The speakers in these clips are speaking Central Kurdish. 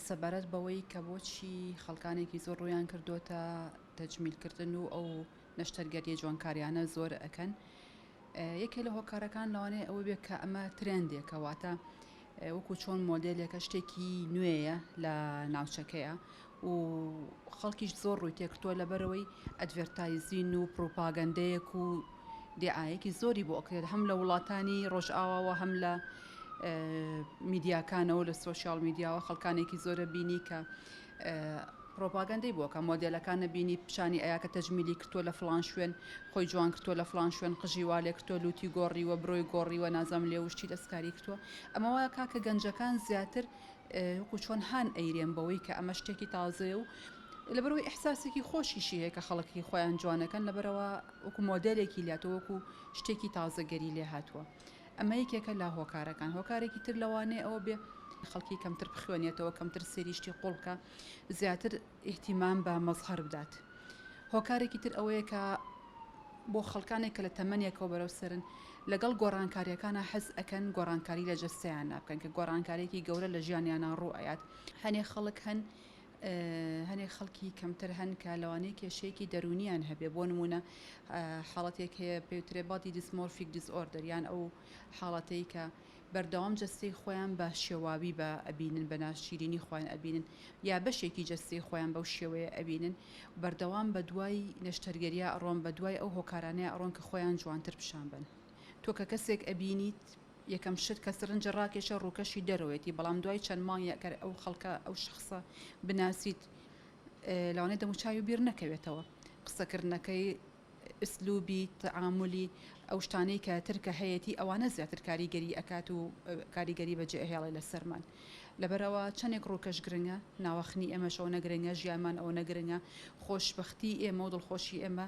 سەبارەت بەوەی کە بۆچی خەڵکانێکی زۆر ڕوویان کردوتە تەجمیلکردن و ئەو نەشتەرگەریە جوانکاریانە زۆر ئەەکەن یەکێ لە هۆکارەکان لەوانەیە ئەوە بێت کە ئەمە ترێندێکەواتە وەکو چۆن مۆدێلێکە شتێکی نوێیە لە ناوچەکەیە و خەڵکیش زۆر ڕووی تێکرتووە لەبەرەوەی ئەدڤێرتایزین و پڕوپاگەندەیەک و دعاەکی زۆری بۆ ئەکرێت هەم لە وڵاتانی ڕۆژئاواوە هەم لە میدیاکانەوە لە سوۆسیال میدیاوە خەڵکانێکی زۆرە بینی کە پڕۆپاگەندەی بۆ کە مۆدێلەکان نەبینی پیشانی ئەیا کە تەجمیلی کردوە لە فڵان شوێن خۆی جوان کردوە لە فڵان شوێن قژی وا لێ کردوە لوتی گۆڕیوە برۆی گۆڕیوە نازام لێ وشتی دەسکاری کردوە ئەمە وایە کا کە گەنجەکان زیاتر وەکو چۆن هان ئەیرێن بەوەی کە ئەمە شتێکی تازەیە و لەبەرەوەی ئیحساسێکی خۆشیشی هەیە کە خەڵکی خۆیان جوانەکەن لەبەرەوە وەکو مۆدێلێکی لاتۆ وەکو شتێکی تازەگەری لێ هاتوە. ئەمە یەکێکە لە هۆکارەکان هۆکارێکی تر لەوانەیە ئەوە بێ خەڵکی کەمتر بخوێنێتەوە کەمتر سریشتی قوڵکە زیاتر ئیحتیمام بە مەزهەر بدات هۆکارێکی تر ئەوەیە کە بۆ خەڵکانێک کە لە تەمەنێکەوە بەرەو سەرن لەگەڵ گۆڕانکاریەکانە حەز ئەکەن گۆڕانکاری لە جەستەیان نابکەن کە گۆڕانکارێکی گەورە لە ژیانیانە ڕوو ئەیات هەنێ خەڵک هەن هەنێک خەڵکی کەمتر هەن کە لەوانەیە کێشەیەکی دەروونییان هەبێت، بۆ نموونە حاڵەتێک هەیە پێی وترێت Body Dysmorphic Disorder یان ئەو حاڵەتەی کە بەردەوام جەستەی خۆیان بە شێواوی بە ئەبینن، بە ناشیرینی خۆیان ئەبینن یا بەشێکی جەستەی خۆیان بەو شێوەیە ئەبینن، بەردەوام بە دوای نەشتەرگەرییە ئەڕۆن، بە دوای ئەو هۆکارانەیە ئەڕۆن کە خۆیان جوانتر پیشان بەن. تۆ کە کەسێک ئەبینیت، یەکەم شت کە سرنج ڕاکێشە ڕووکەشی دەرەوەیەتی بەڵام دوای چەند مانگێ ئەگەر ئەو خەڵکە ئەو شەخسە بناسیت لەوانەیە دەموچاوی بیر نەکەوێتەوە قسەکردنەکەی ئسلوبی تەعامولی ئەو شتانەی کە ترکە هەیەتی ئەوانە زیاتر کاریگەری ئەکات و کاریگەری بەجێ ئەهێڵێ لەسەرمان لەبەرەوە چەندێک ڕووکەش گرنگە ناوەخنی ئێمەشەوە نەگرنگە ژیانمان ئەوە نەگرنگە خۆشببختی ئێمە و دڵخۆشی ئێمە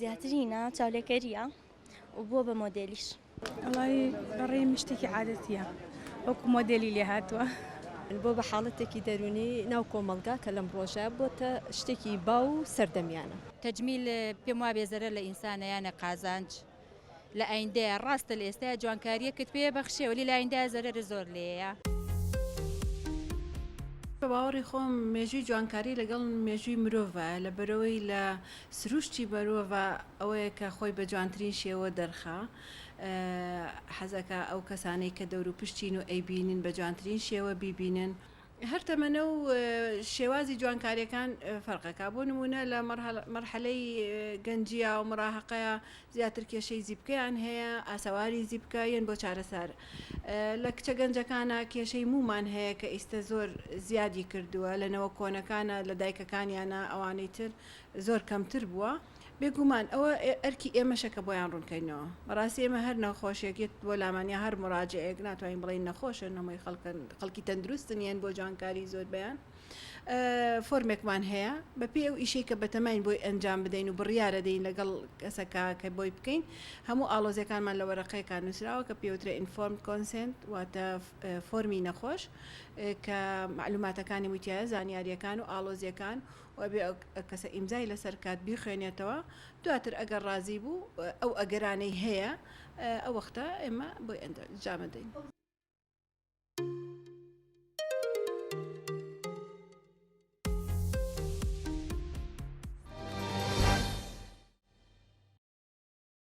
زیاتری نا چاولێکەریە و بووە بە مۆدێلیش ئەڵی بەڕێ مشتێکی عادەتە وەکو مۆدێلی لێ هاتووە بۆ بە حاڵەتێکی دەرونی ناو کۆمەلگا کە لەم ڕۆژە بۆتە شتێکی باو و سەردەمیانە تەجمیل پێم وابێ زەرە لە ئینسانە یانە قازانج. لە ئایندەیا ڕاستە لە ئێستایا جوانکاریەکت پێ بەخشێ وەلی لە ئایندایا زەرەرە زۆر لێیە. بە باوەڕی خۆم مێژووی جوانکاری لەگەڵ مێژووی مرۆڤە لەبەرئەوەی لە سروشتی مرۆڤە ئەوەیە کە خۆی بە جوانترین شێوە دەرخا حەزئەکا ئەو کەسانەی کە دەوروپشتین و ئەیبینن بە جوانترین شێوە بیبینن، هەر تەمەنە و شێوازی جوانکاریەکان فەرقەکا بۆ نموونە لە مەرحەلەی گەنجیا و مراهقەیە زیاتر کێشەی زیپکەیان هەیە ئاسەواری زیپکە یەن بۆ چارەسەر لە کچە گەنجەکانە کێشەی مومان هەیە کە ئیستا زۆر زیادی کردووە لەنەوە کۆنەکانە لە دایکەکانیانە ئەوانەی تر زۆر کەمتر بووە. بێگوومان ئەوە ئەرکی ئێمەشە کە بۆیان ڕوونکەینەوە. بەڕاستی ئێمە هەر نەخۆشێک یەت بۆ لامان یا هەر موراجەعەیەک ناتوانین بڵێین نەخۆشن هەمووی خەڵکن خەڵکی تەندروستن یەن بۆ جوانکاری زۆربەیان فۆرمێکمان هەیە بە پێی ئەو ئیشەی کە بەتەماین بۆی ئەنجام بدەین و بڕیارە دەین لەگەڵ کەسەکە کە بۆی بکەین هەموو ئاڵۆزیەکانمان لە وەرەقەیەکان نووسراوە کە پێوترە ئینفۆرم کۆنسنت واتە فۆرمی نەخۆش کە معلوماتەکانی وتیایە زانیاریەکان و ئاڵۆزیەکان وابێ ئەو کەسە ئیمزای لەسەر کات بیخوێنێتەوە دواتر ئەگەر ڕازی بوو ئەو ئەگەرانەی هەیە ئەو وەختە ئێمە بۆی ئەنجام جامە دەین.